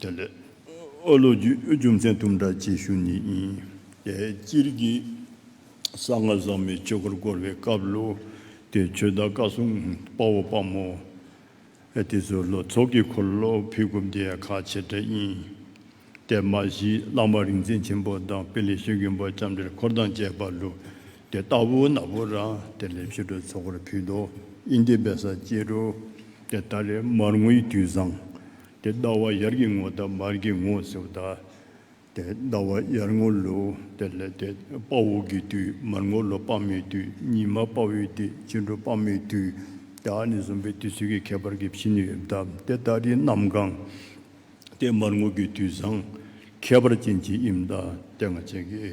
དེ་ལས་ཨོ་ལོ་ཀྱི་རྒྱུ་མཚན་དུམ་བསྒྲགས་བྱེད་ཤུགས་ནི་ཡིན། དེ་སྤྱིར་གྱི་ས་ལྔ་བཟང་མོའི་ཆོས་སྐོར་བསྐོར་བའི་སྐབས་ལོ་དེའི་ཆོས་བདག་བཀའ་སྲུང་དཔའ་བོ་དཔའ་མོ་དེ་ཚོའི་ལོ་ཚོགས་ཀྱི་འཁོར་ལོ་ཕུད་སྒོམ་དེ་ཡང་ཁག་ཆེ་གྲས་ཡིན། དེ་མ་གཞི་བླ་མ་རིག་འཛིན་ཆེན་པོ་དང་དཔེ་ལེགས་ཤོས་མཁན་པོ་ལྕམ་དྲེལ་འཁོར་དང་བཅས་པ་ལོ་དེ་ལྟ་བུ་ནག་པོ་ར་དེ་ལས་ཕྱི་དྲོའི་ཚོགས་འཁོར་ཕུད་དོ། དབྱིན་དེ་བས་ས་སྐྱེས་འགྲོ། དེ་ལྟ་ལས་མར་ངོ་ཡི་དུས་བཟང། དེ་ལྟ་བ་ཡར་གྱི་ངོ་ལྟ་མར་གྱི་ངོ་སེའུ་ལྟ། དེ་ལྟ་བ་ཡར་ངོ་ལོ་དེ་ལས་དེ་དཔའ་བོ་གི་དུས་མར་ངོ་ལོ་དཔའ་མོའི་དུས་ཉི་མ་དཔའ་བོའི་དེ་ཕྱི་དྲོ་དཔའ་མོའི་དུས་དེ་ཨ་ནི་གསུམ་པའི་དུས་ཚོད་ཀྱི་ཁྱད་པར་གྱི་ཕྱི་ནི་ཡོད་ལྟ་དེ་ལྟ་དེ་གནམ་གང། དེ་མར་ངོ་གི་དུས་བཟང། ཁྱད་པར་ཅན་གྱི་དབྱིབས་ལྟ་དེ་ང་ཅན་གྱི་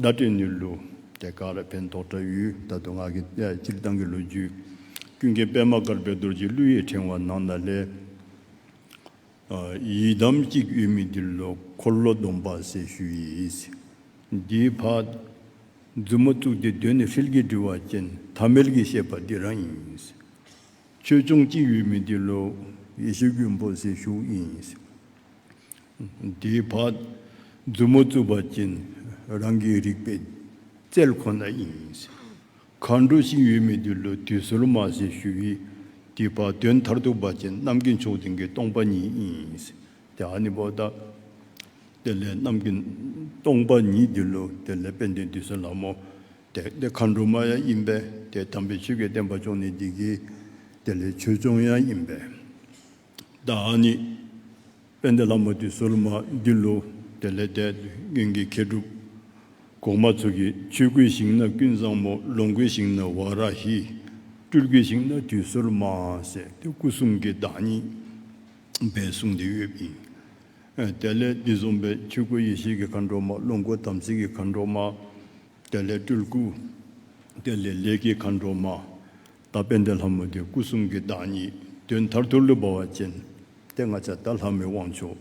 བརྡ་སྤྲོད་ནུས་ལུགས་དེ་ཀ་ར་བན་ཐོག་བྲག་ཡུལ་དར་མདོ་སྔགས་ཀྱི་སྤྱིར་བཏང་གི་ལོ་རྒྱུས། ཀུན་མཁྱེན་པད་མ་དཀར་པོའི་རྡོ་རྗེའི་གླུ་ཡི་ཕྲེང་བ་ནང་ན་ལྷའི། ཡི་དམ་གཅིག་དབུས་མི་ཏི་ལོ་འཁོར་ལོ་སྡོམ་པ་སེར་ཤུལ་ཡིས། འདིའི་བར། མཛུབ་མོ་བཙུགས་ཏེ་གདོད་ནས་ཧྲིལ་གྱིས་འདྲིལ་བ་ཅན་ཐ་མལ་གྱི་བཤད་པ་འདི་རང་ཡིན། ཆོས་སྐྱོང་གཅིག་དབུས་མི་ཏི་ལོ་ཡེ་ཤེས་རྒྱུན་པོ་སེར་ཤུལ་ཡིན། འདིའི་བར་མཛུབ་མོ་བཙུགས་པ་ཅན་རང་གི་རིག་པའི་རྩལ་ཁོ་ན་ཡིན། མཁའ་འགྲོ་ཞིག་ཡོད་མེད་དེ་ལོ་དུས་སོར་མ་ཟད་ཞུ་བའི་དེའི་བར་དོན་མཐར་ཐུག་པ་ཅན་གནམ་གྱི་མཆོག་དེང་གི་སྟོང་པ་ཉིད་ཡིན། དེ་ཧ་ནི་བོ་ད། དེ་ལས་གནམ་གྱི་སྟོང་པ་ཉིད་དེ་ལོ་དེ་ལས་དཔལ་ལྡན་དུས་སོ་ལྷ་མོ་དེ་དེ་མཁའ་འགྲོ་མ་ཡང་ཡིན་པས་དེ་དམ་པའི་ཆོས་ཀྱི་བསྟན་པ་མཆོག་ནི་འདི་གིས་དེ་ལས་ཆོས་སྐྱོང་ཡང་ཡིན་པས། བདག་ཉིད་དཔལ་ལྡན་ལྷ་མོ་དེ་སོ་ལོ་མ་འདི་ལོ་དེ་ལས་འདས། གཡོན་གྱི་མཁས་གྲུབ་གོང་མ་ཚུལ་གྱི་ཆོས་སྐུའི་ཞིང་ན་ཀུན་བཟང་མོ་ལོངས་སྐུའི་ཞིང་ན་བ་ར་ཧི། སྤྲུལ་སྐུའི་ཞིང་ན་དུས་སོ་ལོ་མ་ཟེར་ཏེ་སྐུ་གསུམ་གྱི་བདག་ཉིད་པའི་གསུང་འདི་ཡོད་པ་ཡིན། དེ་ལས་འདི་བཟུང་པའི་ཆོས་སྐུ་ཡེ་ཤེས་ཀྱི་མཁའ་འགྲོ་མ་ལོངས་སྐུ་དམ་ཚིག་གི་མཁའ་འགྲོ་མ། དེ་ལས་སྤྲུལ་སྐུ། དེ་ལས་ལས་ཀྱི་མཁའ་འགྲོ་མ། བདག་དཔལ་ལྡན་ལྷ་མོ་དེ་སྐུ་གསུམ་གྱི་བདག་ཉིད་དུས་མཐར་ཐུག་ལུས་འབར་བ་ཅན་ཏེ་ལྔ་ཚ་བདག་ལྷ་མོའི་དབང་ཆོག་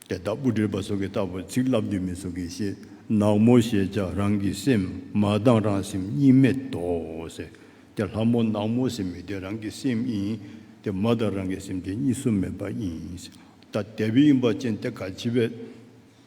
སྟེ་བདག་སྤུ་གྲིར་བ་སོ་གི་རྟ་ཕོ་ཚིག་བརླབ་འདུས་མི་སོ་གི་ཤེས་ནག་མོ་ཞེས་བྱ་རང་གི་སེམས་མ་བཏང་རང་སེམས་གཉིས་མེད་དོ་ཟེར་ཏེ་ལྷ་མོ་ནག་མོ་སེམས་མེད་དེ་རང་གི་སེམས་ཡིན་ཏེ་མ་བཏང་རང་གི་སེམས་དེ་གཉིས་སུ་མེད་པ་ཡིན་ཏེ་དེ་བས་དབྱིངས་འབར་ཅན་ཏེ་ག་བྱི་བའི།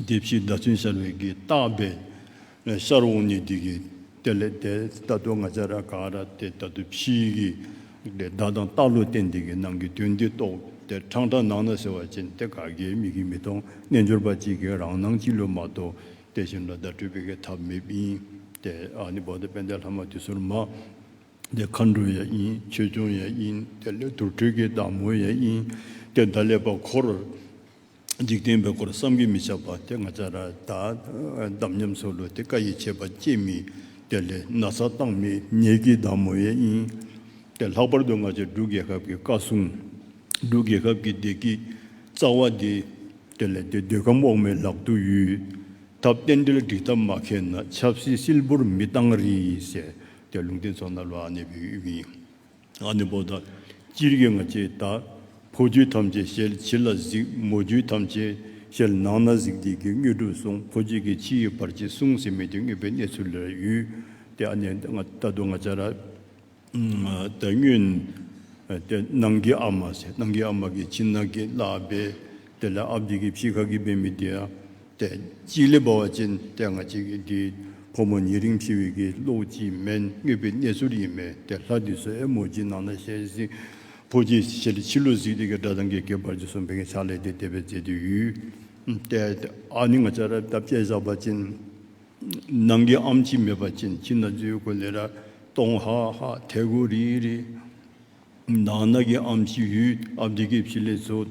བདེ་བཞིའི་ཟླ་ཚུན་ཤར་བའི་གི་རྟགས་པས། ཤར་འོང་ནི་འདི་གི་དེ་ལས་དེ་ད་དུ་ང་ཅག་ར་ག་ར་དེ་ད་དུ་ཕྱིའི་གི་དེ་བདག་དང་རྟགས་ལོ་སྟེ་འདི་གི་ནང་གི་དོན་འདི་རྟོགས་དེ་འཕྲང་འདྲ་ནང་ན་ཟེར་བ་ཅན་དེ་ག་གེའི་མིག་གིས་མི་མཐོང་རྣལ་འབྱོར་པ་གཅིག་གིས་རང་སྣང་གཅིག་ལོ་མ་རྟོགས་དེ་བཞིན་ལ་བརྡ་སྤྲོད་པའི་གི་ཐབས་མེད་ཡིན་ཏེ་ཨ་ནི་བོ་ད་པན་དའི་ལྷ་མ་དུས་སོར་མ་དེ་མཁའ་འགྲོ་ཡང་ཡིན་ཆོས་སྐྱོང་ཡང་ཡིན་དེ་ལས་དུར་ཁྲོད་ཀྱི་བདག་མོ་ཡང་ཡིན་ཏེ་བརྡ་ལས་པ་འཁོར་འཇིག་རྟེན་པའི་སྐོར་བསམ་གྱིས་མི་ཁྱབ་པ་དེ་ང་ཅག་ར་དྭགས་དམ་ཉམས་སུ་ལུས་ཏེ་བཀའ་ཡི་ཆད་པ་བཅད་མི་དེ་ལས་ན་ཚ་བཏང་མི་ཉེས་ཀྱི་བདག་མོ་ཡིན་ཏེ་ལྷག་པར་དུ་ང་ཅག་འབྲུག་རྒྱལ་ཁབ་ཀྱི་བཀའ་སྲུང་འབྲུག་རྒྱལ་ཁབ་ཀྱི་བདེ་སྐྱིད་རྩ་བ་འདི་དེ་ལས་དེ་འདོད་ཁམས་འོག་མའི་ལག་ཏུ་ཡུལ་ཐབས་རྟེན་འབྲེལ་སྒྲིག་ཐབས་མ་མཁས་ན་ཆབ་སྲིད་སིལ་བུར་མི་བཏང་རིགས་ཞེས་དེ་ལུང་བསྟན་ཚོགས་ན་ལོ་ཨ་ནེ་བའི་དབུས་མིང། ཨ་ནི་པོ་དང་སྤྱིར་སྐྱེ་ང་ཅེས་བཏགས། ཕོ་རྒྱུད་ཐམས་ཅད་ཤེལ་ཕྱི་ལ་གཟིགས་མོ་རྒྱུད་ཐམས་ཅད་ཤེལ་ནང་ན་གཟིགས་བདེ་སྐྱིད་དངོས་གྲུབ་གསུངས་ཕོ་རྒྱུད་ཀྱི་ཕྱི་ཡི་བར་ཆད་བསྲུང་ཟིན་མི་དེ་རྔུལ་པའི་གནས་ཚུལ་ལ་ཡུལ་ཏེ་ཨ་ནི་རྟ་དུ་ང་ཅར་ཏེ་སྨྱོན། ཏེ་ནང་གི་ཨ་མ་སེ་ནང་གི་ཨ་མ་གི་ཕྱི་ནང་གི་བླ་འབེ་དེ་ལ་ཨ་བདེ་སྐྱིད་ཕྱི་ཁ་གི་འབེ་མི་བདེ། ལྟས་གཅིག་ལས་འབར་བ་ཅན་ལྟས་ང་གཅིག་གིས་འདི་ཕོ་མོ་ཉིས་རིང་ཕྱི་བས་ཀྱིས་གློག་གཅིག་མན་རྔས་པའི་གནས་ཚུར་ཡིན་མེད་དེ་ལྷ་དུས་སུ་ཨེ་མོ་ཅིག་ནང་ན་ཞལ་གཟིགས་ཕོ་གཅིག་ཞལ་ལས་ཕྱི་ལོ་གཟིགས་དེ་གའི་སྒྲ་དང་གའི་གའི་བར་གྱི་སོ་འཕེན་གྱི་ཕྱག་ལས་དེ་དེ་བས་མཛེས་དུས་ཡུལ། ལྟས་ཨ་ནི་ང་ཅག་ར་བཏབ་སྐྱས་བཞག་པ་ཅན། ནང་གི་ཨམ་གཅིག་མེད་པ་ཅན་ཁྱིམ་ན་འཛུལ་དགོས་ལེ་ར་གཏོང་ཧ་ཧ་ཐལ་གོ་རི་རི། ནང་ན་གི་ཨམ་ཞི་ཡུལ་ཨ་བདེ་ཀེ་བྱི་ལེ་ཚོ།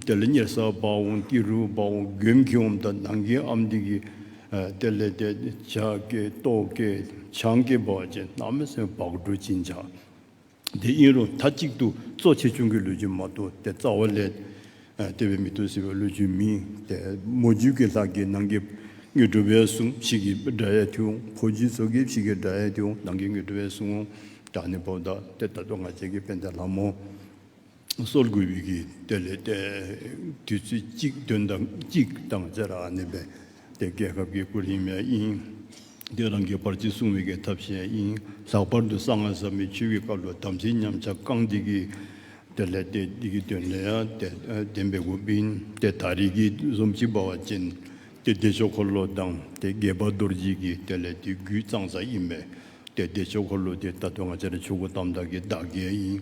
དེ་ལ་གཉེར་ས་སྦ་འོང་ཏི་རུ་སྦ་འོང་གེམ་ཁི་འོམ་དང་ནང་གི་ཨམ་དི་ཀེ། དེ་ལས་དེ་བྱ་ཀེ་ཏོ་ཀེ་ཆང་ཀེ་བ་ཅེ་ན་མི་སེ་བག་གྲོ་ཅི་འཇག། དེ་ཨིན་རུང་ཐ་གཅིག་ཏུ་གཙོ་ཆེ་ཆུང་གི་ལུས་ཀྱི་མ་ཏོ་དེ་རྩ་བ་ལས། ལྟེ་བའི་མི་སྟོན་སྲིད་པའི་བློས་འཇུག་མིན། ལྟད་མོ་རྒྱུད་ཀྱི་ལྷ་གི་ནང་གི་དངོས་གྲུབ་པའི་གསུང་བཤིག་གི་སྒྲ་ཡལ་ཐུང་ཕོ་རྒྱུད་ཚོགས་ཀྱི་བཤིག་གི་སྒྲ་ཡལ་ཐུང་ནང་གི་དངོས་གྲུབ་པའི་གསུང་སྒྲ་ནི་བོགས་འདག་སྟེ་ད་དུང་ང་བཅས་ཀྱི་དཔལ་ལྡན་ལྷ་མོ། སོར་དགུའི་དབྱིག་གི་གཏེར་ལས་ཏེ། དུས་ཚོད་གཅིག་དོན་དམ་གཅིག་དང་བརྩེ་རགས་གནས་པའི། དེ་རྒྱལ་ཁབ་ཀྱི་སྐུ་རིང་མའི་དབྱིངས། དེ་རང་གི་བར་གྱི་སྲུང་བའི་གདབ་བྱའི་དབྱིངས། ལྷག་པར་དུ་གསང་སྔགས་ཟབ་མོའི་ཆོས་ཀྱི་བཀའ་བློ་དམ་ཚིག་ཉམས་ཆག་བསྐང་བདེ་གི། དེ་ལས་དེ་བདེ་གི་དོན་ལས་བདེན་པའི་སྒོ་སྤིན། དེ་དག་རིགས་ཀྱི་གཟུངས་གཅིག་འབར་བ་ཅན། དེ་བདེ་མཆོག་འཁོར་ལོ་དང་དེ་རྒྱས་པ་རྡོ་རྗེ་གི། དེ་ལས་དེ་རྒྱུད་གཙང་སྲ་དབྱིབས་མེད། དེ་བདེ་མཆོག་འཁོར་ལོ་དེ་ལྟ་དོན་ང་ཅག་ཆོས་སྐུ་དམ་བདག་གི་བདག་བསྐྱེད་དབྱིངས།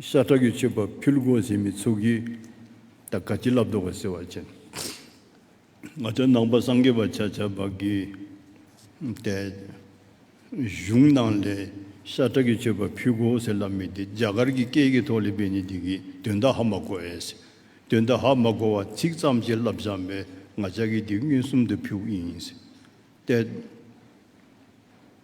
ཤ་ཁྲག་གིས་མཆོད་པ་ཕུལ་དགོངས་བཞེས་མི་ཚུགས་ཀྱི། ད་ག་བྱིན་རླབས་ཟློག་པ་སེར་བ་ཅན། ང་ཚོའི་ནང་པ་སངས་རྒྱས་པ་ཆ་ཆ་བ་གིས། དེ་གཞུང་ནང་ལས་ཤ་ཁྲག་གིས་མཆོད་པ་ཕུལ་དགོངས་ཟེར་ལབ་མི་དེ་རྒྱ་གར་གྱི་སྐད་ཀྱི་ཐོག་ལས་པའི་ནི་དེ་གི་དོན་དག་ཧ་མ་གོ་ཨེས། དོན་དག་ཧ་མ་གོ་བ་ཚིག་ཙམ་ཞིག་ལབ་བཞག་མེད་ང་ཅག་གི་དེ་མངོན་སུམ་དུ་ཕུལ་ཡིན། ཏེ།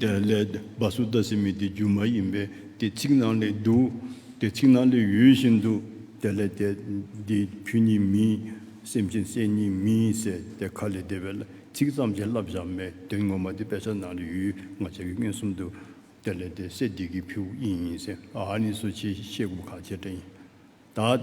དེ་ལས་སྦ་སུ་ཏ་སི་མི་དེ་རྒྱུ་མ་ཡིན་པས་དེ་ཚིག་ནང་ལས་འདུག་དེ་ཚིག་ནང་ལས་ཡོད་བཞིན་དུ་དེ་ལས་དེ་འདི་ཁྱོད་ཉིད་མིན་སེམས་ཅན་སེམས་ཉིད་མིན་ཟེར་དེ་ཁ་ལས་འདས་པའི་ཚིག་ཙམ་གྱིས་བསླབ་བཞག་མའི་དོན་ངོ་མ་དེ་དཔེ་ཆ་ནང་ལས་ཡོད་ང་ཅག་གི་མངོན་སུམ་དུ་དེ་ལས་དེ་སེ་འདི་གི་ཕིའུ་ཨིན་ཡིན་ཟེར་ཨ་ཨ་ནི་སོ་ཆའི་ཤེས་སྒོམ་ཁ་ཇེ་བཀྲ་ཡིན་ད།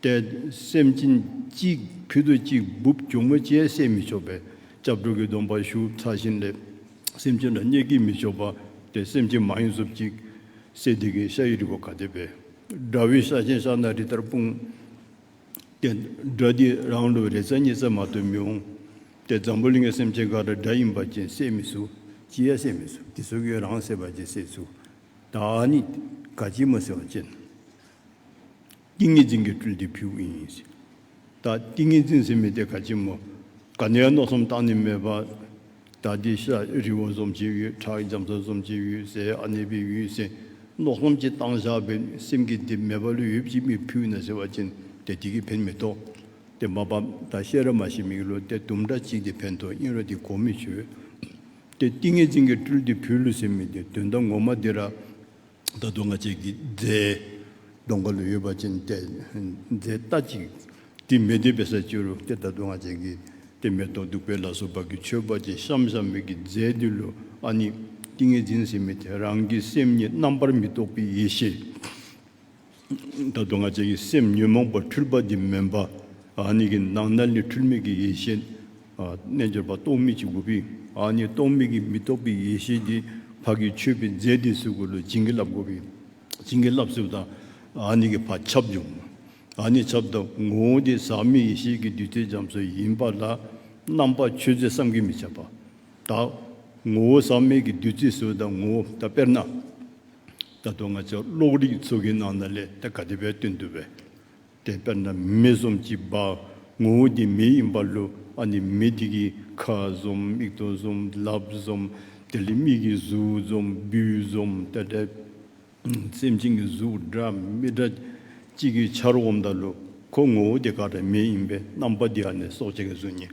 ཏེ། སེམས་ཅན་གཅིག་ཕུད་དུ་གཅིག་སྦུབས་གྱོ་མོ་ཅན་བསད་མི་ཆོག་པས་སྐྱབས་འགྲོ་གི་སྡོམ་པ་ཞུ་ཚ་བཞིན་ལས། སེམས་ཅན་དང་བསྙད་བགྱི་མི་ཆོག་པ་སྟེ་སེམས་ཅན་མང་ཡོད་སུབ་ཅིག། སྲས་དེ་གའི་ཤ་ཡི་རི་བོ་ག་དེ་བས། དགྲ་བོའི་ཤ་ཆེན་ཤ་སྣ་རི་ལྟར་སྤུངས། ཏེ། དགྲ་འདིས་རང་ལོ་རེ་རྩ་གཉིས་རྩ་མ་ཐོས་མི་འོང། ཏེ་འཛམ་བུ་གླིང་གི་སེམས་ཅན་འགའ་རེ་དགྲ་ཡིན་པ་ཅན་བསད་མི་ཚུག་ཅི་ཡ་བསད་མི་ཚུག་དེ་ཚོ་གིས་རང་བསད་པ་ཅན་བསད་ཚུག། བདག་ནི་དགའ་སྐྱིད་མོ་ཟེར་བ་ཅན། ཏིང་ངེ་འཛིན་གྱི་སྤྲུལ་ཏེ་བུའི་དབྱིངས་ཡིན། ཟད་ད་ཏིང་ངེ་འཛིན་ཟིན་མི་དེ་ག་ཅི་མོ། ག་ནས་མནོ་བསམ་བཏང་ནི་མེད་པ། ད་འདི་ཤ་རི་བོ་འཛོམས་བྱེད་ཡུལ་བྲག་རྒྱ་མཚོ་འཛོམས་བྱེད་ཡུལ་ཟས་ཨ་ནེ་པའི་ཡུལ་ཟིན་མནོ་བསམ་གྱི་བཏང་བཞག་པའི་སེམས་ཀྱི་འདི་མེད་པ་ལུས་ཡོད་ཀྱི་མི་ཕུད་ན་ཟེར་བ་ཅན་དེ་དེ་གི་ཕན་མི་ཐོག་དེ་མ་བབ་ད་ཤེས་རབ་མ་ཞིག་མིག་ལུས་ཏེ་དུམ་སྒྲ་གཅིག་དེ་ཕན་ཐོག་དབྱིངས་རོ་དེ་གོ་མི་ཆོད་དེ་ཏིང་ངེ་འཛིན་གྱི་སྤྲུལ་ཏེ་བུའི་ལུས་ཟིན་མི་དེ་དོན་དམ་ངོ་མ་འདི་ར། ད་དུང་ང་བཅས་ཀྱིས་རྫས་སྡོང་ག་ལུ་ཡོད་པ་ཅན་སྟེ་རྫས་རྟ་ཅིག་དེ་མི་འདོད་པའི་སར་བཅུག་རོགས་ཏེ་ད་དུང་ང་བཅས་ཀྱིས་དེ་མེ་ཏོག་བདུག་པའི་ལ་སོགས་བག་གི་མཆོད་པ་ཅན་ཤམ་ཤམ་མིག་གི་རྫས་འདི་ལོ་ཨ་ནི་ཏིང་ངེ་འཛིན་སེམས་མེད་དེ་རང་གི་སེམས་ཉིད་རྣམ་པར་མི་རྟོག་པའི་ཡེ་ཤེས། བདག་དང་ང་བཅས་ཀྱི་སེམས་ཉོན་མོངས་པ་འཁྲུལ་པ་འདི་མིན་པ་ཉིད་ཀྱི་ནང་ན་ནི་འཁྲུལ་མེད་ཀྱི་ཡེ་ཤེས་རྣལ་འབྱོར་པ་རྟོག་མེད་ཅིག་དགོས་པས་ནི་རྟོག་མེད་ཀྱི་མི་རྟོག་པའི་ཡེ་ཤེས་ཀྱི་བར་གྱི་ཆོས་པའི་རྫས་འདི་སུས་བཀོད་ལ་བྱིན་གྱིས་བརླབས་དགོས་པས་བྱིན་གྱིས་བརླབས་སུ་དང་ཉིད་ཀྱི་བར་ཁྱབ་བྱུང་ནི་ཁྱབ་བདག་ངོ་བོ་དེ་ཟག་མེད་ཡེ་ཤེས་ཀྱི་བདུད་རྩི་འཇམ་སོ་ཡིན་པ་ལ་རྣམ་པ་ཆོས་རྫས་བསམ་གྱིས་མི་ཁྱབ་པ་བདག་ངོ་བོ་ཟག་མེད་ཀྱི་བདུད་རྩི་སུ་དང་ངོ་བོ་བདག་དཔེར་ན། ད་དུང་ང་ཚོས་ཀློག་རིགས་གཙོ་གི་ནང་ན་ལས་དགའ་དེ་བས་སྟོན་འདུག་པས། དེ་ལྟར་ན་མི་གསུམ་གྱི་བ་ངོ་བོ་དེ་མི་ཡིན་པ་ལོ་ཨ་ནི་མི་དེ་གི་ཁ་ཟོམ་མིག་ཏོ་ཟོམ་ལབ་ཟོམ་དེ་ལས་མིག་གི་གཟུགས་ཟོམ་བུའི་ཟོམ་ལྟ་སྒྲ་སེམས་ཅན་གྱི་གཟུགས་སྒྲ་མི་སྒྲ་གཅིག་གི་ཆར་འོམ་ད་ལོ་ཁོ་ངོ་བོ་དེ་ཁ་སྒྲ་མི་ཡིན་པས་རྣམ་པ་དེ་ཨ་ནི་སྲོག་ཆགས་ཀྱི་གཟུགས་ཉིད་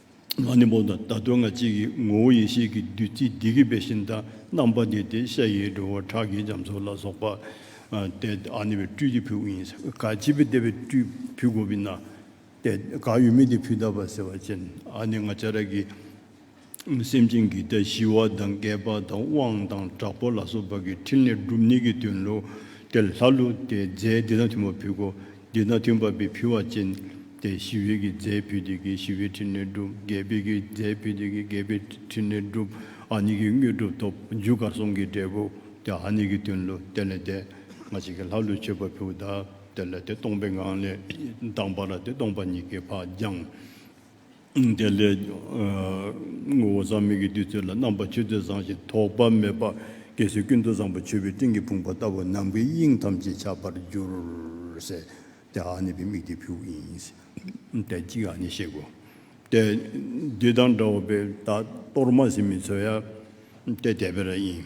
ང་ནི་འོ་ན་ད་དུང་ང་གཅིག་གི་ངོ་བོ་ཡེ་ཤེས་ཀྱི་བདུད་རྩིའི་སྡིག་གི་བེ་ཤིན་དང་རྣམ་པ་འདི་སྟེ་ཤ་ཡི་སྒྲོ་བོ་ཁྲག་གི་རྒྱ་མཚོ་ལ་སོགས་པ་སྟེ་ཨ་ནི་བའི་སྤྲུལ་གྱི་བུ་ཡིན། ག་བྱིས་པའི་ལྟེ་བའི་སྤྲུལ་བུ་གོ་བི་ན་སྟེ་ག་ཡུལ་མིན་ཏེ་བུདྡྷ་བ་སེར་བ་ཅན་ཨ་ནི་ང་བྱ་ར་གི་སེམས་ཅན་གྱི་ལྟ་ཞི་བ་དང་བསྐལ་པ་དང་དབང་དང་དྲག་པོ་ལ་སོགས་པ་གི་ཕྲིན་ལས་སྒྲུབ་ནུས་ཀྱི་དོན་ལུགས་ཏེ་ལྷ་ལུགས་ཏེ་རྫས་འདི་དང་མཐུན་པ་བུ་གོ། འདི་ན་ཐུན་བབས་པའི་ཕུལ་བ་ཅན། ཏེ་ཞི་བའི་གིས་རྫས་ཕུལ་དེ་གིས་ཞི་བའི་ཕྲིན་ལས་བསྒྲུབ། རྒྱས་པའི་གིས་རྫས་ཕུལ་དེ་གིས་རྒྱས་པའི་ཕྲིན་ལས་བསྒྲུབ། ཨ་ནི་གིས་དངོས་གྲུབ་ཐོབ། འཇུག་གར་གསུམ་གྱི་འབྲས་བུ། ཏེ་ཨ་ནི་གིས་དོན་ལུས་དེ་ལས་འདས། སྔ་ཕྱི་གི་ལྷ་ཀླུའི་མཆོད་པ་ཕུལ། བདག་དེ་ལ་དེ་སྟོང་པའི་ངང་ལས། དང་བ་ལ་དེ་སྟོང་པ་ཉིད་ཀྱི་བག་སྦྱངས། དེ་ལས། ངོ་བོ་ཟག་མེད་ཀྱི་བདུད་རྩི་ལ་རྣམ་པ་ཆུ་རྩི་བཟང་ཞིང་དོག་པ་མེད་པ། གེགས་སེལ་ཀུན་ཏུ་བཟང་པོ་མཆོད་པའི་སྤྲིན་གྱི་བུང་བ་ལྟ་བུ་ནམ་མཁའི་དབྱིངས་ཐམས་ཅད་ཆགས་པར་འགྱུར། ཟེར་ཏེ་ཨ་ནི་བི་མིག་དེ་ཕུག་ཡིན། དེ་གཅིག་ཨ་ནི་གཤེགས་སྒོ། དེ། འདི་དང་འདྲ་བ་པའི་བདག་གཏོར་མ་ཟིན་མི་ཚོལ་ཡ། དེ་དད་པའི་ར་ཡིན།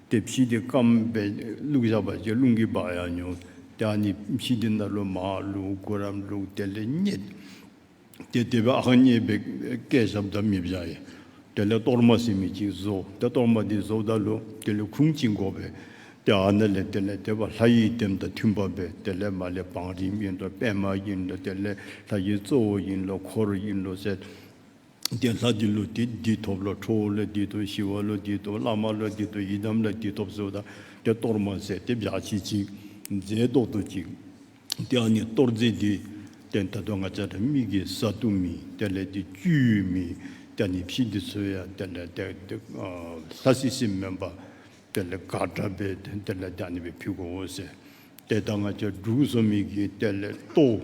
དེ་ཕྱིས་དེ་སྐམ་པས་བླུགས་བཞག་པ་ཅིག་རླུང་གིས་སྦགས་ཡང་ཉུང། དེའང་ནི་ཕྱིས་དེ་ནཱ་རོ་མ་བླུགས་དགུ་རམ་བླུགས་དེ་ལས་རྙེད། དེ་དེ་བས་ཨང་རྙེད་པས་སྐད་ཞབས་བདག་མི་བཞག་ཡིན། དེ་ལས་གཏོར་མ་སེ་མི་གཅིག་བཟོ། དེ་གཏོར་མ་དེ་བཟོ་བདག་ལུགས་དེ་ལས་ཁུང་གཅིག་འགོག་པས། དེ་ཨ་ན་ལས་དེ་ལས་དེ་བ་ལྷ་ཡི་དེམ་དང་མཐུན་པ་བས་དེ་ལས་མ་ལས་བང་རིམ་ཡིན་ལོ་པད་མ་ཡིན་ལོ་དེ་ལས་ལྷ་ཡི་གཙོ་བོ་ཡིན་ལོ་འཁོར་ཡིན་ལོ་ཟེར། དེ་ལྷ་དེ་ཀླུ་དེ་བདུད་ཐོབ་ལ་ཁྲོ་བོ་ལ་བདུད་དོ་ཞི་བ་ལ་བདུད་དོ་བླ་མ་ལ་བདུད་དོ་ཡི་དམ་ལ་བདུད་ཐོབ་གསོལ་བདག་དེ་གཏོར་མ་ཟས་དེ་བཞག་བྱིན་ཅིག། རྫས་བཟློག་ཏུ་ཅིག། དེའང་ནི་གཏོར་རྫས་འདི་སྟེ་ད་དུང་ང་ཅག་དྲ་མིག་གི་ས་དུ་མི་དེ་ལས་འདི་བཅུད་མི་དེ་ནི་ཕྱིས་འདི་ཚོལ་ཡ་དེ་ལས་དེ་ལྷ་སྲིད་སྲིད་སྨན་པ་དེ་ལས་དགག་དྲ་བས་དོན་དེ་ལས་དེ་ནི་བའི་ཕུད་གོ་འོ་ཟེར། དེ་ལྟར་ང་ཅག་འབྲུག་གསོ་མི་གིས་དེ་ལས་བཏོགས།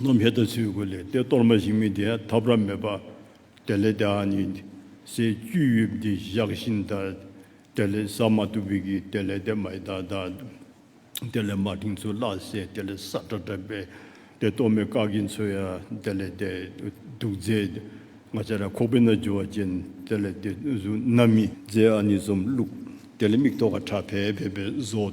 ནོ་མྷེ་ཏཱ་ཚུལ་དགུ་ལས་ཏེ་གཏོར་མ་བཞིན་མི་དེ་ཐབས་རབ་མེད་པ། དེ་ལས་ཏེ་ཨ་ནི་སའི་བཅུད་དབྱིབས་འདི་བཞག་བཞིན་དག། དེ་ལས་ས་མ་ཏུ་བི་གི་དེ་ལས་ཏེ་མ་ཨི་དཱ་དག། དེ་ལས་མ་ཏིང་ཚུ་བླ་སེ་དེ་ལས་སཱ་ཏྲ་ཏྲ་པེ། དེ་གཏོར་མའི་ཀ་གི་མཚོ་ཡ་དེ་ལས་ཏེ་དུག་རྫས་ང་ཅ་ར་ཁོག་པའི་ན་ཇོ་བ་ཅན་དེ་ལས་ཏེ་གཟུགས་ན་མི་རྫས་ཨ་ནི་ཟོམ་བླུགས། དེ་ལས་མིག་ཐོག་ཁ་ཁྲ་བལ་བལ་པའི་བཟོ།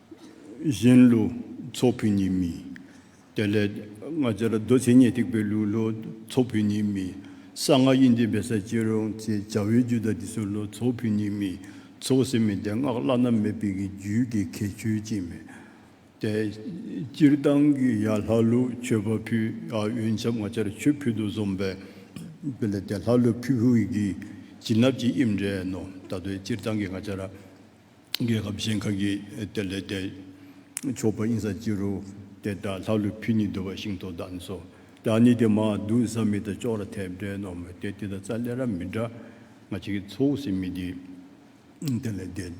གཞན་ལུས་ཚོགས་ཕུད་གཉིས་མིན། དེ་ལས་སྔ་ཕྱིར་རྡོ་རྗེ་ཉིད་ཐེག་པའི་ལུས་ལུས་ཚོགས་ཕུད་གཉིས་མིན། གསང་སྔགས་དབྱིངས་ཀྱི་བེ་སར་གྱིས་རུང་ཅེས་བྱ་བའི་རྒྱུད་དང་དེ་སྲོག་ལུས་ཚོགས་ཕུད་གཉིས་མིན། ཚོགས་ཟེར་མི་དེ་སྔགས་བླ་ན་མེད་པའི་གི་རྒྱུད་ཀྱི་ཁྱད་ཆོས་ཅན་མིན། དེ་སྤྱིར་བཏང་གི་ཡ་ལྷ་ལུས་མཆོད་པ་ཕུད་ཨ་འོན་ཆབ་སྔ་ཕྱིར་ཆོས་ཕུད་དུ་བཟུང་བས། དེ་ལས་དེ་ལྷ་ལུས་ཕུད་ཧུའི་གིས་བྱིན་རླབས་ཀྱི་དབྱིབས་འདྲེན་ནོ། ད་དུ་སྤྱིར་བཏང་གི་སྔ་ཕྱིར། རྒྱལ་ཁབ་གཞན་ཁག་གིས་དེར་ལས་སྟེགས་ཕྱོགས་པ་ཨིན་ས་ཅི་རུ་དེ་དག་ལྷག་ལུས་ཕུད་གཉིས་བསྡུ་བ་ཤིང་ཏོག་བདག་ནི་སོ་བདག་ནི་དེ་མ་བསྡུ་ས་མི་དང་ཅོག་ར་ཐེབས་འདྲའི་ནོར་མི་དེ་དེ་དང་རྩ་ལེ་ར་མི་འདྲ་ང་ཅིག་གིས་ཚོའུ་སི་མི་འདི་དེ་ལས་སྟེགས་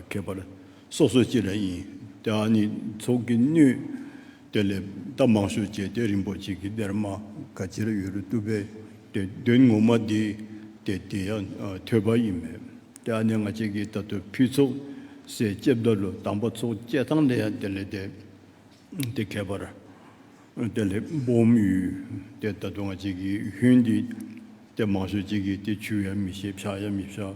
ཁེབས་པར་སོ་སོ་ཅི་ར་ཡིན་དེ་ཨ་ནི་ཚོགས་ཀྱི་སྣོད། སྟོད་ལས་རྟ་མང་ཤོས་བཅས་སྟོད་རིན་པོ་ཆེ་གི་སྡེར་མ་ག་ཅིར་ཡོད་རུ་བཏུབ་པས་དོན་ངོ་མ་འདི་དེ་དེ་ཡང་ཐོས་པ་ཡིན་མོད་ཀྱི་ཨ་ནེ་ང་བཅས་ཀྱི་ད་དུ་ཕུད་ཚོགས་སའི་ལྕེ་བདར་ལོ་དང་པ་ཚོགས་སྐྱེ་ཐང་ལས་ཡང་དེ་ལས་དེ་དེ་ཁྱད་པར་དེ་ལས་སྦོམ་ཡུལ་དེ་ད་དུ་ང་བཅས་ཀྱི་ཡུལ་འདི་སྟེ་མང་ཤོས་བཅས་ཀྱི་དེ་ཆུ་ཡང་མི་ཤེས་བྱ་ཡང་མི་བྱ།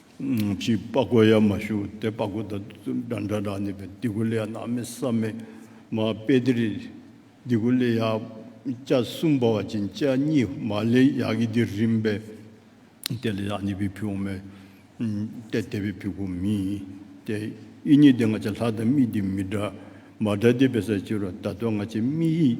ཅིག་དཔའ་རྒོད་ཡ་མ་ཞུ་དེ་དཔའ་རྒོད་དང་འདྲ་འདྲ་འདྲ་ནི་བདེ་དགུ་ལས་ནག་མི་ས་མི་མ་དཔེ་དེ་རིགས་དེ་དགུ་ལས་ཡག་སྐྱ་གསུམ་པ་བ་ཅན་སྐྱ་གཉིས་མ་ལས་ཡག་གི་དེ་རིམ་པས་དེ་ལས་ཡག་ནི་བི་བི་འོ་མའི་དེ་དེ་བི་བི་གོ་མི་དེ་དབྱི་གཉིས་དེ་ང་ཅག་ལྷ་དང་མི་དེ་མི་འདྲ་མ་འདྲ་དེ་བི་ས་ཅི་རོ་ད་དོ་ང་ཅག་མི་ཡིས།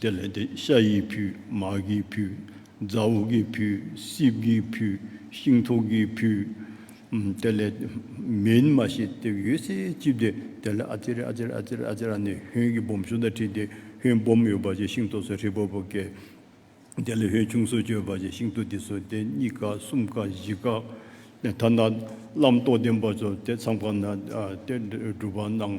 དེ་ལས་དེ་ཤ་ཡི་བུ་མར་གྱི་བུ་རྫ་བོ་གི་བུ་སྲིབ་གི་བུ་ཤིང་ཐོག་གི་བུ། དེ་ལས་མིན་མ་ཞེས་དེ་ཡོད་ཚད་བཅིབས་ཏེ་དེ་ལ་ཨ་ཙེར་ཨ་ཙེར་ཨ་ཙེར་ཨ་ཙེར་ཨ་ནི་ཧོན་གྱི་སྦོམ་ཕྱུགས་དང་ཁྲིད་དེ་ཧོན་སྦོམ་ཡོད་པ་ཅན་ཤིང་ཐོག་སོ་ཧྲིལ་པོ་པོ་བཀལ། དེ་ལས་ཧོན་ཆུང་སོ་སྐྱོད་པ་ཅན་ཤིང་ཐོག་དེ་སོ་དེ་གཉིས་ཀ་གསུམ་ཀ་བཞི་ཀ། ཐ་ན་བླ་མདོ་བསྟན་པ་ཚོ་དེ་མཚམས་ཁ་ན་དེ་སྒྲུབ་པ་གནང།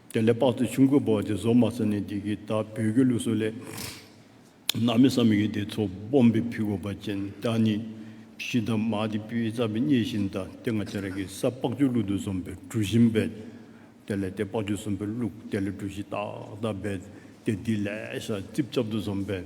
དེ་ལས་དཔག་ཚད་ཆུང་ཁུ་བོ་དེ་བཟོ་མ་ས་ནས་འདི་གི་ད་བོད་ཀྱི་ལུགས་སྲོལ་ལས། ནང་མི་བསམ་ཡོད་དེ་ཚོ་སྦོམ་པའི་ཕི་གོ་པ་ཅན་དག་ནི། ཤི་དང་མ་དེ་སྤུའི་རྩ་བའི་སྙེ་བཞིན་དང་དེ་ང་ཅ་ར་གི་ས་སྤགས་ཆུ་བླུག་ཏུ་བཟོམ་པའི་གྲུ་བཞིན་བེད། དེ་ལས་དེ་སྤགས་ཆུ་བཟོམ་པའི་བླུག་དེ་ལས་གྲུ་བཞི་ཏག་ཏག་བེད་དེ་དེ་ལས་ས་རྩིབ་ཅབ་ཏུ་བཟོམ་བེད།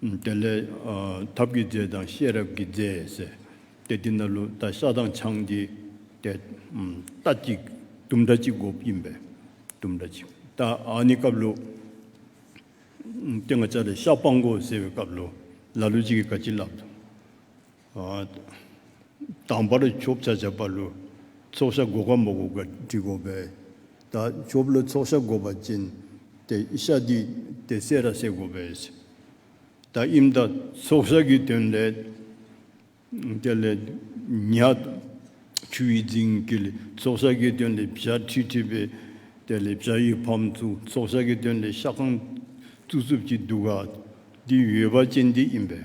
དེ་ལས། ཐབས་ཀྱི་རྫས་དང་ཤེས་རབ་ཀྱི་རྫས་ཟེར། དེ་དེ་ན་ལུགས་ལྟ་ཤ་དང་ཆང་གི། དེ། རྟ་གཅིག་དུམ་སྒྲ་གཅིག་གོ་བཅིངས་པས། དུམ་སྒྲ་གཅིག་རྟ་ཨཱ་ནི་སྐབས་ལུགས། ཏེ་ང་ཅག་ལས་ཤ་སྤང་གོ་ཟེར་བའི་སྐབས་ལུགས་ལ་ལུགས་གཅིག་གིས་ཀ་གཅིག་བསླབ། དང་བར་ཆོབ་བྱ་བྱ་བ་ལོ་ཚོགས་ཤ་འགོག་ག་མ་འགོག་ག་དྲི་གོ་བས་ད་ཆོབ་ལོ་ཚོགས་ཤ་འགོག་པ་ཅན་དེ་ཤ་དུས་དེ་བསད་ར་བསད་གོ་བས་སོ། ད་ཨིམ་ད་ཚོགས་ཤ་གི་དོན་ལས། དེ་ལས་ཉག་ཆུ་ཡི་རྫིང་གི་ལས་ཚོགས་ཤ་གི་དོན་ལས་བྱ་ཁྲི་ཁྲི་བས་དེ་ལས་བྱ་ཡི་ཕམ་བཙུག་ཚོགས་ཤ་གི་དོན་ལས་ཤ་ཁང་བཙུག་བཙུབ་ཀྱི་འདུག་ག་འདི་ཡོད་པ་ཅན་འདི་ཨིམ་བས།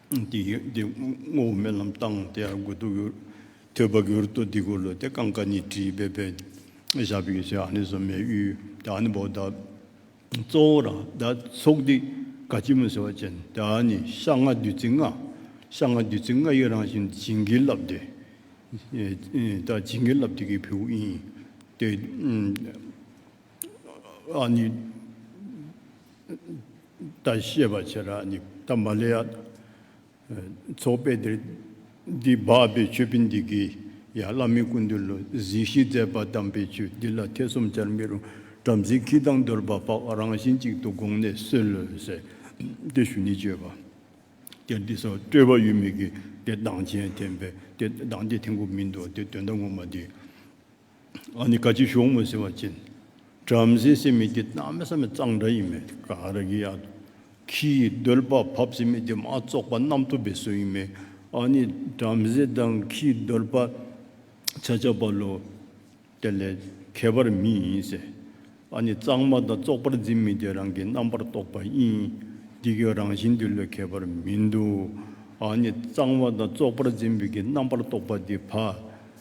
འདི་ངོ་བོ་རྨི་ལམ་བཏང་སྟེ་དགོས་ཐུག་གི་ཐོས་པ་གྱུར་ཏོ་འདི་གོ་ལོ་དེ་ཀང་ཀ་ནི་བྲིས་པའི་བེ་ཤ་བི་ཀི་ཤ་ཨ་ནི་ཟོ་མའི་དབྱུས་དེ་ཨ་ནི་བོ་ད་གཙོ་བོ་ར་ད་ཚོགས་འདི་ག་སྐྱིལ་མོ་ཟེར་བ་ཅན་དེ་ཨ་ནི་ཤ་ལྔ་བདུད་རྩི་ལྔ་ཤ་ལྔ་བདུད་རྩི་ལྔ་ཡི་རང་བཞིན་བྱིན་གྱིས་བརླབས་ཏེ་ད་བྱིན་གྱིས་བརླབས་ཏེ་ཀྱི་བེའུ་ཨིན་ཏེ། ཨཱ་ནི་ཏཱ་ཤེས་པར་བྱས་ལ་ཨཱ་ནི་ཏཱ་མ་ལེ་ཡ། ཚོགས་དཔེ་འདིར་འདི་སྦགས་པའི་མཆོད་དཔེ་འདི་གིས་ཡང་བླ་མའི་སྐུ་འདུལ་ལོ་གཟིགས་ཤིང་མཛད་པ་གདམས་པའི་ཆོས་འདི་ལ་ཐེ་ཚོམ་བྱར་མི་རུང་བྲམ་ཟེའི་ཁྱི་དང་གདོལ་པ་ལྤགས་རང་བཞིན་གཅིག་ཏུ་དགོངས་ནས་གསོལ་ལོས། དེ་ཞུ་ནི་སྤྱོད་པ་སྟེ་འདི་སོགས་སྤྲོས་པ་ཡོད་མི་དགོས་ཏེ་གདངས་ཅན་བསྟན་པས་དེ་གདངས་ཏེ་ཐེག་མགོ་མིན་ཏོ་དེ་དོན་དམ་ངོ་མ་འདི། ཨ་ནི་ཀ་ཅི་ཞོག་མོ་ཟེར་བ་ཅན། བྲམ་ཟེ་སེམས་མི་བདེ་གཏམ་མི་ཟ་མི་གཙང་འདྲ་ཡིན་མོད་ཀ་ར་གི་ཡག་དུ་ཁྱི་ཡི་རྡོལ་དཔའ་བབས་སེམས་མི་བདེ་མ་བཙོག་པ་རྣམ་ཐོབ་པའི་སྲོལ་ཡིན་མོད་ཨ་ནི་བྲམ་ཟེ་དང་ཁྱི་ཡི་རྡོལ་དཔའ་ཆ་ཆ་བ་ལོ། དེ་ལས་ཁྱད་པར་མི་ཡིན་ཟེར། ཨ་ནི་གཙང་མ་དང་བཙོག་པར་འཛིན་མི་བདེ་རང་གི་རྣམ་པར་རྟོག་པ་ཡིན། འདི་གའི་རང་བཞིན་འདི་ལོས་ཁྱད་པར་མི་འདུག་ཨ་ནི་གཙང་བ་དང་བཙོག་པར་འཛིན་པའི་གི་རྣམ་པར་རྟོག་པ་འདི་བ།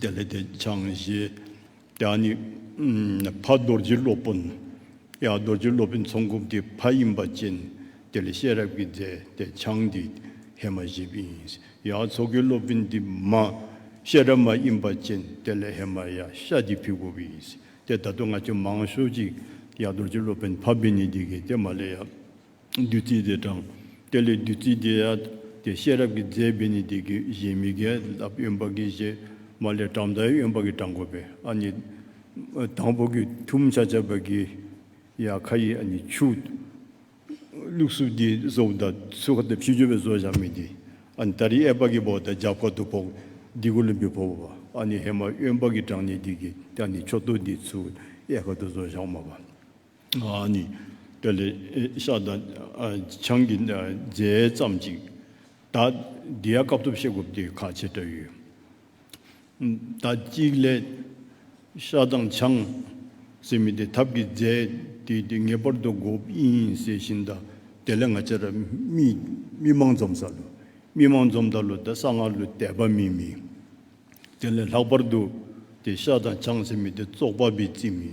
དེ་ལས་དེ་འཆང་བཞི། དེ་ནི་ཕ་རྡོ་རྗེ་སློབ་དཔོན། ཡང་རྡོ་རྗེ་སློབ་དཔོན་ཚོང་འགུགས་ཀྱི་ཕ་ཡིན་པ་ཅན། དེ་ལས་ཤེས་རབ་ཀྱི་རྫས་དེ་འཆང་འདི་ཧེ་མ་ཞེས་པ་ཡིན། ཡང་མཚོ་ཁའི་སློབ་དཔོན་འདི་མ། ཤེས་རབ་མ་ཡིན་པ་ཅན་དེ་ལས་ཧེ་མ་ཡ་ཤ་འདི་ཕི་བོ་བ་ཡིན། དེ་ད་དུང་ང་ཆོས་མང་ཤོས་ཅིག། ཡང་རྡོ་རྗེ་སློབ་དཔོན་ཕ་བི་ནི་འདི་གི་དེ་མ་ལས་ཡ། བདུད་རྩི་དེ་དྲངས། དེ་ལས་བདུད་རྩི་དེ་ཡལ་ཏེ་ཤེས་རབ་ཀྱི་རྫས་བི་ནི་ཏི་གི་བཞིན་མི་དགེ་ལ་གཡོན་པ་གྱི་བཞི་མ་ལས་དྲངས་མཐའི་གཡོན་པ་གྱི་དྲང་བོ་པའི་ཨ་ནི་དང་པོ་གྱི་ཐུམ་ཆ་ཆ་བ་གི་ཡ་ཁ་ཡི་ཨ་ནི་ཆུ་བླུགས་སུ་དེའི་བཟོ་བོ་དང་ཚུལ་ཁ་དང་ཕྱི་སྦྱོར་བའི་བཟོ་བཞག་མི་དེ་ཨ་ནི་དར་ཡི་ཨེ་པ་གི་བོག་དང་ལྗགས་བཀོད་དུ་བོག་འདི་གུ་ལུམ་པི་བོ་བ་ཨ་ནི་ཧེ་མ་གཡོན་པ་གྱི་དྲང་ནི་དི་གི་ཏི་ཨ་ནི་ཆོ་ཏོ་དེའི་ཚུལ་ཨེ་ཁ་དུ་བཟོ་བཞག་མ་བ། ནི། དེ་ལས་ཤ་དང་ཆང་གི་རྫས་ཙམ་ཅིག་ད་ལྡི་ཡ་སྐབས་ཐོབ་ཤེས་རྒོབ་ཏི་ཁ་ཆེ་བྲ་ཡོད། ད་གཅིག་ལས་ཤ་དང་ཆང་ཟེར་མི་དེ་ཐབ་ཀྱི་རྫས་དེ་དེ་ངེས་པར་དུ་རྒོབ་ཡིན་ཟེར་བཞིན་ད་དེ་ལས་ང་ཅ་ར་མི་མང་འཛོམ་ས་ལུ་མི་མང་འཛོམ་ད་ལུ་ད་ས་ང་ལུ་དད་པ་མི་མི། དེ་ལས་ལྷག་པར་དུ་དེ་ཤ་དང་ཆང་ཟེར་མི་དེ་བཙོག་པ་བི་ཙི་མི།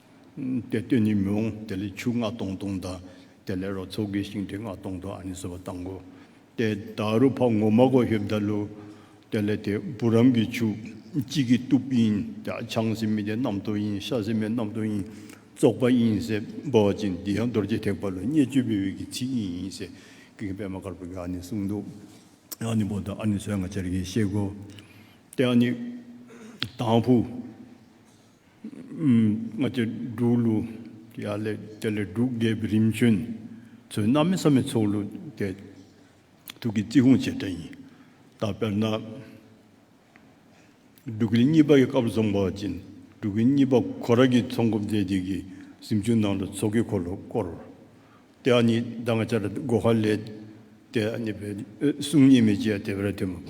དེ་སྟོད་ནི་མི་འོང་དེ་ལས་ཆུ་ལྔ་སྟོང་སྟོང་དང། དེ་ལས་རོ་ཚོ་དགེ་ཞིང་འབྲས་ལྔ་སྟོང་སྟོང་ཨ་ནི་སོ་བ་བཏང་གོ། དེ་དཱ་རུ་བྷ་ངོ་མ་གོ་ཧེབ་དཱ་ལུ། དེ་ལས་དེ་བུ་རམ་གྱི་ཆུ། གཅིག་གི་སྟུབས་ཡིན་དེ་ཆང་སེ་མི་དེ་རྣམ་ཐོ་ཡིན་ཤ་སེ་མེ་རྣམ་ཐོ་ཡིན། བཙོག་པ་ཡིན་སེ་སྦོ་བ་ཅན་འདི་ཡང་རྡོ་རྗེ་ཐེག་པ་ལོ་སྙེ་སྤྱོད་པའི་དབུས་ཀྱི་ཚིག་ཡིན་ཡིན་སེ་ཀི་གི་པད་མ་དཀར་པོ་གི་ཨ་ནི་གསུང་འདུག་ཨ་ནི་བོ་དང་ཨ་ནི་སོའི་ང་ཅར་གྱིས་གཤེགས་གོ། དེ་ཨ་ནི་དང་བུ། སྔགས་ཀྱི་འབྲུག་གླུ། ཡ་ལེ་ཏེ་ལེ་འབྲུག་རྒྱལ་བའི་རིམ་བྱོན། ཚོས་གནའ་མི་ས་མི་ཚོགས་གླུ་སྐད། ཐུགས་ཀྱི་རྩིས་ཁུངས་བྱེད་སྒྲ་ཡིན། ད་དཔེར་ན། འབྲུག་གླུ་གཉིས་པ་ཡི་སྐབས་རྫོང་པ་བྱིན། འབྲུག་གི་གཉིས་པ་གོ་ར་གྱི་ཚོགས་འགོ་མཛད་ཅིག་གི། གཟིམ་ཆུང་ནང་དུ་ཚོགས་ཀྱི་འཁོར་ལོ་བསྐོར། དེ་ཨ་ནི་ཟླ་ང་བྱ་ར་སྒོ་ཁར་སླེབས། དེ་ཨ་ནི་བས། གསུང་ཉིད་མི་བྱེད་དེ་བས་དེ་མ་བབ།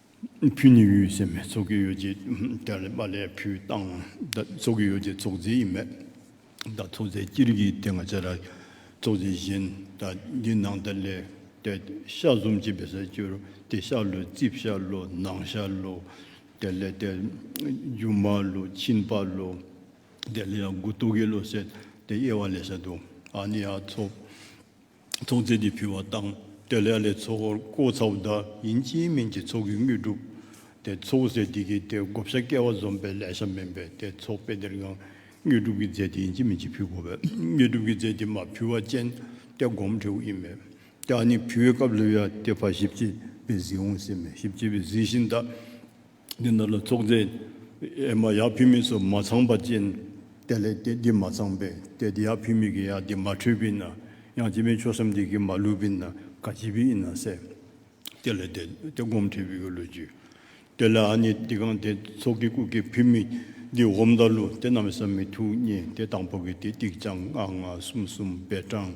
ཕུ་ནི་ཡུལ་སྲས་མའི་ཚོགས་ཀྱི་ཡོ་བྱད་དེ་ལས་པ་ལས་ཕུའི་སྟངས་ད་ཚོགས་ཀྱི་ཡོ་བྱད་ཚོགས་རྫས་ཡིན་མོད། ད་ཚོགས་རྫས་སྤྱིར་གྱི་དེ་ང་ཚེ་ར་ཚོགས་རྫས་བཞིན་ད་འདི་ནང་ད་ལས་ཏེ་ཤ་གཟུམ་གྱི་བེ་སར་བཅུ་རུ་ཏེ་ཤ་ལུ་རྩིབས་ཤ་ལུ་ནང་ཤ་ལུ་དེ་ལས་ཏེ་རྒྱུ་མ་ལུ་མཆིན་པ་ལུ་དེ་ལས་ཡང་དགུ་སྟོད་ཀྱི་ལོ་སྲེད་དེ་དབྱེ་བ་ལས་ཤ་དུ་ཨ་ནི་ཡ་ཚོགས། ཚོགས་རྫས་ཀྱིས་ཕུལ་བ་བཏང་སྟེ་ལས་ལས་ཚོགས་འཁོར་བསྐོར་ཚ་བོ་བདག་ཡིན་གྱིས་མིན་གྱི་ཚོགས་ཀྱི་དངོས་གྲུབ་སྟེ་ཚོགས་རྫས་འདི་གིས་ཏེ་བགོ་བཤའ་བསྐལ་བ་འཛོམས་པའི་ལས་བྱ་མིན་པས་ཏེ་ཚོགས་དཔེ་འདིར་ཡང་དངོས་གྲུབ་ཀྱི་རྫས་དེ་ཡིན་གྱིས་མིན་གྱི་ཕུལ་བགོ་བས་དངོས་གྲུབ་ཀྱི་རྫས་དེ་མ་ཕུལ་བ་ཅན་ཏེ་བསྒོམ་འབྲས་བུ་ཡིན་མོད་ཀྱང་ནི་ཕུལ་བའི་སྐབས་ལུས་ཡ་སྟེ་བ་ཞིབ་ཅེས་པས་གཟིགས་འོང་ཟེར་མོད་ཞིབ་ཅེས་པས་གཟིགས་ཤིང་བདག། འདི་འདྲ་ལ་ཚོགས་རྫས་ཨེ་མ་ཡག་ཕུལ་མིན་སོགས་མ་ཚང་པ་ཅན་དེ་ལས་དེ་འདི་མ་ཚང་པས་དེ་འདི་ཡག་ཕུལ་མིན་གྱི་ཡག་འདི་མ་འཁྲུལ་པས་ན་ཡང་སྤྱི་པའི་ཆོས་སམ་འདི་གི་མ་ལུས་པས་ན་ག་སྤྱི་པའི་ཨེ་ན་སེ། དེ་ལས་དེ་དེ་སྒོམ་འཁྲུལ་པའི་གི་ལུས་རྒྱུ། དེ་ལས་ཨ་ནི་འདི་གང་དེ་ཚོགས་ཀྱི་སྐུ་གི་ཕུལ་མིན་འདི་བསྒོམ་ད་ལུ་དེ་རྣམས་སམ་མི་ཐུག་གཉིས་དེ་དང་པོ་གི་དེ་ཏིག་ཅང་ལྔ་ལྔ་གསུམ་གསུམ་བས་གྲངས།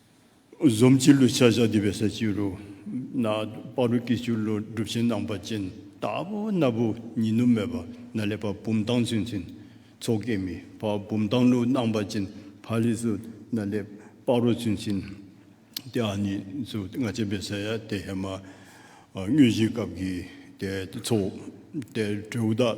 གཟུངས་སྤྱི་བླུ་བྱ་བཞག་འདུས་པའི་ས་བཅུ་རུ། ན་པ་རུ་ཀའི་བཅུ་བླུ་སྒྲུབ་ཆེན་སྣང་བ་ཅན། རྟ་བབས་སྣ་བུག་ཉི་ནུབ་མོས་པ་ན་ལེ་བར་བུམ་བཏང་ཚུལ་མཚན། ཚོགས་བསྐྱེད་མི་བར་བུམ་བཏང་ལུགས་སྣང་བ་ཅན། བྷ་ལི་སུ་ན་ལེ་པ་རུ་ཚུལ་མཚན། ཏེ་ཨ་ནི་སུ་ལྔ་བྱེད་པའི་ས་ཡ་སྟེ་ཧེ་མ། དངོས་གཞིའི་སྐབས་ཀྱི་ཚོགས། ཏེ་དྲེའུ་བདག།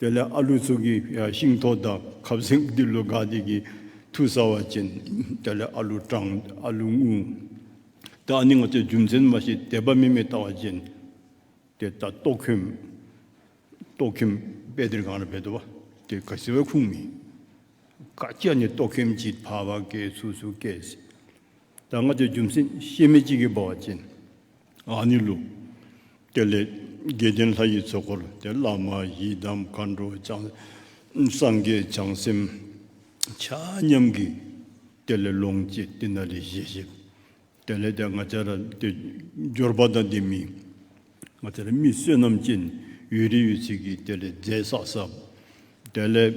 དེ་ལས་ཨ་ལུ་ཚུགས་ཀྱི་ཤིང་ཐོག་དང་ཁབ་གཟིག་འདི་ལོ་དགའ་སྡིག་གི་མཐུ་ཟ་བ་ཅན། དེ་ལས་ཨ་ལུ་སྐྲངས་ཨ་ལུ་སྔུན། དེ་ཨ་ནི་ང་ཚོའི་རྒྱུ་མཚན་མ་ཞིག་དད་པ་མི་མེད་ལྟ་བ་ཅན། དེ་ལྟ་ཏོག་ཁྱིམ། ཏོག་ཁྱིམ་དཔེ་དེར་གང་ལ་བེད་དོ་བ། དེ་ཁ་ཟེར་བའི་ཁུངས་མིན། ཁ་སྐྱེ་ནི་ཏོག་ཁྱིམ་གྱིས་ཕ་བ་ཀའི་ཚུགས་སུ་སྐྱེས། དང་ང་ཚོའི་རྒྱུ་མཚན་ཤེས་མེད་ཅིག་གིས་སྦ་བ་ཅན། ཨ་ནི་ལུགས། དེ་ལས་དགེ་ལྡན་ལྷ་ཡི་ཚོགས་འཁོར་དེ་བླ་མ་ཡི་དམ་མཁའ་འགྲོ་བྱང་སངས་རྒྱས་བྱང་སེམས་ཆ་མཉམ་གྱི། དེ་ལས་ལོངས་སྤྱད་ཏི་ན་རེ་བཞེས་ཤིག། དེ་ལས་དེ་ང་ཅག་ར་དེ་འབྱོར་པ་དང་དེ་མིན་ང་ཅག་ར་མི་བསོད་ནམས་ཅན་ཡུལ་རི་ཡོད་ཚིག་གིས་དེ་ལས་རྫས་བསགས་བསགས། དེ་ལས།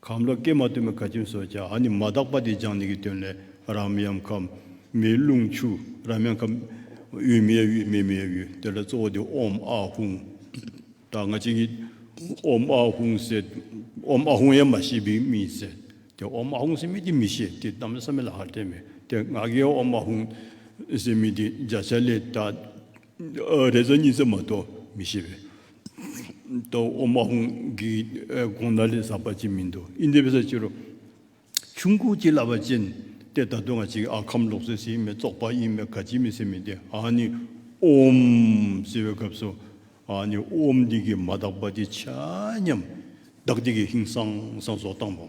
ཁམས་ལ་ཀྱེ་མ་སྟོན་པའི་ཁ་ཆེམས་སོགས་ཀྱང་ཨ་ནི་མ་དག་པ་དེ་སྦྱངས་ནས་ཀྱི་དོན་ལས་རམ་ཡམ་ཁམས་མེའི་རླུང་ཆུ་རམ་ཡམ་ཁམས་དབུས་མའི་དབུས་མེ་མའི་དབུས་དེ་ལ་གཙོ་བོ་དེ་ཨོམ་ཨ་ཧུང་དང་ང་གཅིག་གིས་ཨོམ་ཨ་ཧུང་ཟེར་ཨོམ་ཨ་ཧུང་ཡང་མ་ཤེས་པའི་མིས་ཟེར་དེ་ཨོམ་ཨ་ཧུང་ཟེར་མི་དེ་མི་ཤེས་དེ་གཏམ་ལ་ས་མི་ལ་ཧ་ལྟས་མེད་དེ་ང་གིས་ཨོམ་ཨ་ཧུང་ཟེར་མི་དེ་བརྒྱ་ཆ་ལས་ད། རེས་གཟའ་ཉི་ཚེ་མ་གཏོགས་མི་ཤེས་པས། ཨོ་མ་ཧུང་གིས་དགོངས་ན་ལས་བསགས་པ་ཅིག་མིན་འདུག་ཨིན་དེ་བས་ས་ཅི་རོ། ཆུང་ཁུག་ཅིག་ལབ་པ་ཅན་དེ་ད་དུང་ང་ཅིག་ཨ་ཁམ་ལོག་སྲིད་ཟིན་མེད་བཙོག་པ་ཨིན་མེད་ག་ཅིག་མི་སྲིད་མི་དེ་ཨ་ནི་ཨོམ་ཟེར་བའི་སྐབས་སུ་ཨ་ནི་ཨོམ་འདི་གིས་མ་བདག་པ་འདི་བྱ་སྙམ། བདག་འདི་གིས་ཧིང་སང་སང་སོགས་བཏང་བ།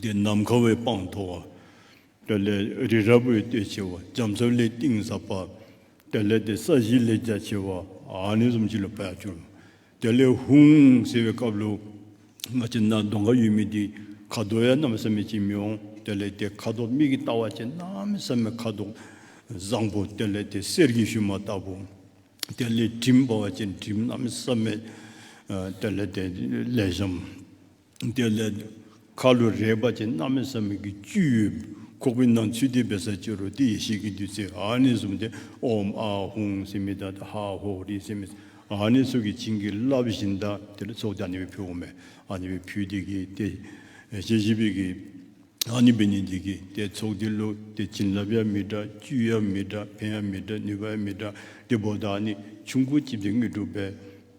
འདི་ནམ་མཁའ་འོད་དཔག་མཐོ་བ། དེ་ལས་རི་རབ་འོད་དཔལ་ཆེ་བ། རྒྱ་མཚོ་ལས་གཏིང་ཟབ་པ། དེ་ལས་དེ་ས་གཞི་ལས་རྒྱ་ཆེ་བ། ནས་གསུམ་གྱིས་ལོ་པདྨ་གྱུར། དེ་ལས་ཧཱུྃ་ཟེར་བའི་སྐབས་ལོ། མ་ཅིག་ན་གདོང་ཁ་ཡུལ་མི་འདི། ཁ་དོག་ཡ་རྣམས་བསམ་མེད་ཅིག་མི་འོང། དེ་ལས་དེ་ཁ་དོག་མིག་གིས་བལྟ་བ་ཅན་རྣམས་བསམ་མེད་ཁ་དོག་བཟང་པོ། དེ་ལས་དེ་གསེར་གྱི་ཞུན་མ་ལྟ་བུ། དེ་ལས་གྲིམས་འབར་བ་ཅན་གྲིམས་རྣམས་བསམ་མེད། དེ་ལས་དེ་ལས་ཤམ། དེ་ལས། ཁ་ལོ་རས་པ་ཅན་རྣམ་སྨིན་བསམ་མེད་ཀྱི་བཅུད་ཡོད། ཁོག་པའི་ནང་ཚུད་དེ་བེ་སར་ཅི་རོ་ཏི་ཡེ་ཤེས་ཀྱི་བདུད་རྩི་ཨཱ་ནི་གསུམ་སྟེ་ཨོམ་ཨ་ཧུང་སི་མི་ཏཱ་ཏཱ་ཧ་ཧོ་རི་སི་མི་ཨཱ་ནི་སོགས་ཀྱིས་བྱིན་གྱིས་བརླབས་པ་བཞིན་དང་དེ་ལ་སོགས་ཏེ་ཨཱ་ནི་བའི་བུ་ཨོ་མའི་ཨཱ་ནི་བའི་བུ་དེ་གིས་ཏེ། ཞེས་བཞི་པའི་གིས། ཨཱ་ནི་བའི་ནི་དེ་གིས་ཏེ་ཚོགས་ཏེ་ལོ་ཏེ་བྱིན་བརླབས་ཡང་མི་འདྲ་བཅུད་ཡང་མི་འདྲ་ཕན་ཡང་མི་འདྲ་ནུས་པ་ཡང་མི་འདྲ་སྟེ་བོ་དང་ནི་ཆུ་འཁོར་བཅིབས་ཏེ་དངོས་གྲུབ་པའི།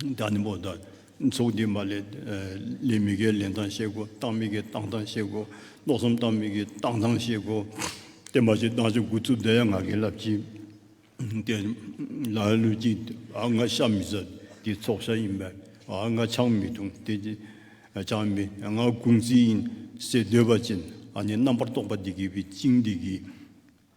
བདག་ནི་པོ་དང་ཚོགས་བསྡུས་མ་ལས། ལས་མི་དགེའི་ལས་མདངས་གཤེགས་གོ། རྟགས་མི་དགེའི་རྟགས་མདངས་གཤེགས་གོ། ལོག་གསུམ་རྟགས་མི་དགེའི་རྟགས་མདངས་གཤེགས་གོ། བརྟན་པ་ཅིག་བདག་ཅིག་དགུ་རྩུབ་བདེ་ཡང་ང་དགེ་ལབ་ཅིག། བརྟན། ལ་ཡང་ལུས་ཅིག་ང་ཤ་མི་ཟ། དེ་ཚོགས་ཤ་ཡིན་པས་ང་ཆང་མི་འཐུང། དེ་ཆང་མི་ང་དགུང་རྩིས་ཡིན། སྲས་འདོད་པ་ཅན་ནི་རྣམ་པར་རྟོག་པ་འདི་དགེ་བའི་བཅིངས་འདི་དགེ།